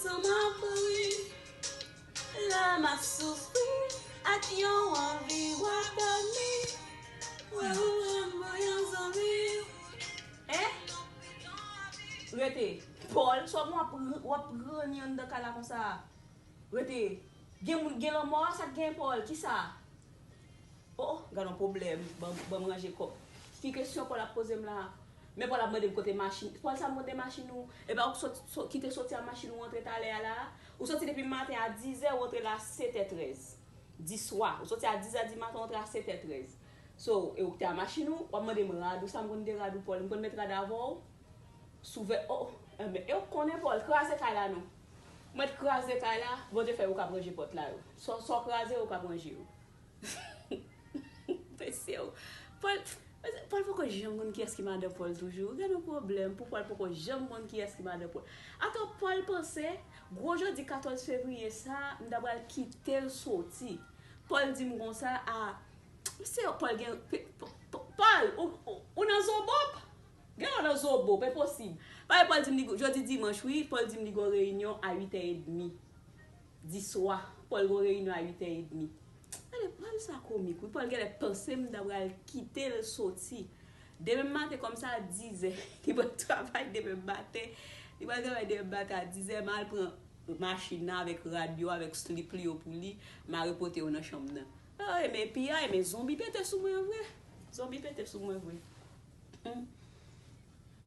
San m ap ri, lè m ap soufri, ak yon anvi w a dòmi, wè ou menm pou yon zanmi. Hein? Rete. Paul, sa bon w ap ranni anndan kay la konsa? Rete. Gen moun k gen lanmò a, sa k gen Paul? Kisa? Oh oh, gadon pwoblèm, ban m ranje kòb. Ki kesyon Paul ap poze m la a? Men Paul ap mandem kote machin, Paul sa mode machin ou, epa ou sot kite soti a machin ou antre talè a la a, ou soti depi maten a 10 zè ou antre la a 7 è 13 di swa, ou soti a 10 zè di maten ou antre a 7 è 13 so e ou kte a machin ou, wap mandem rad ou sa mkonn de rad ou Paul, mkonn met rad avèw sou vè o, enben e ou k konnen Paul, kraze kay la non mwen t kraze kay la, Bondye fè ou kap ranje pòt la yo, sa w kraze ou kap ranje yo. Mesye w. Paul Paul poko janm konn kiyès ki madan Paul toujou. Gen yon pwoblèm pou Paul poko janm konn kiyès ki madan Paul. Atò Paul panse gwo jodi 14 fevrier sa m ta pral kite l soti. Paul di m konsa a Mesye w Paul gen Paul ou nan zobop. Gen lè w nan zobop enposib. Paske Paul di m li jodi dimanch wi Paul di m li gen yon reyinyon a 8 è edmi. Di swa, Paul gon reyinyon a 8 è edmi. Anmweyy Paul sa komik wi Paul genlè panse m ta pral kite l soti demen maten kòm sa a 10 è li pral travay demen maten li pral travay demen maten a 10 è m al pran machin nan avèk rad yo avèk slip li yo pou li m al repote yo nan chanm nan Eey men piyay men zonbi pete sou mwen vre zonbi pete sou mwen vre humm.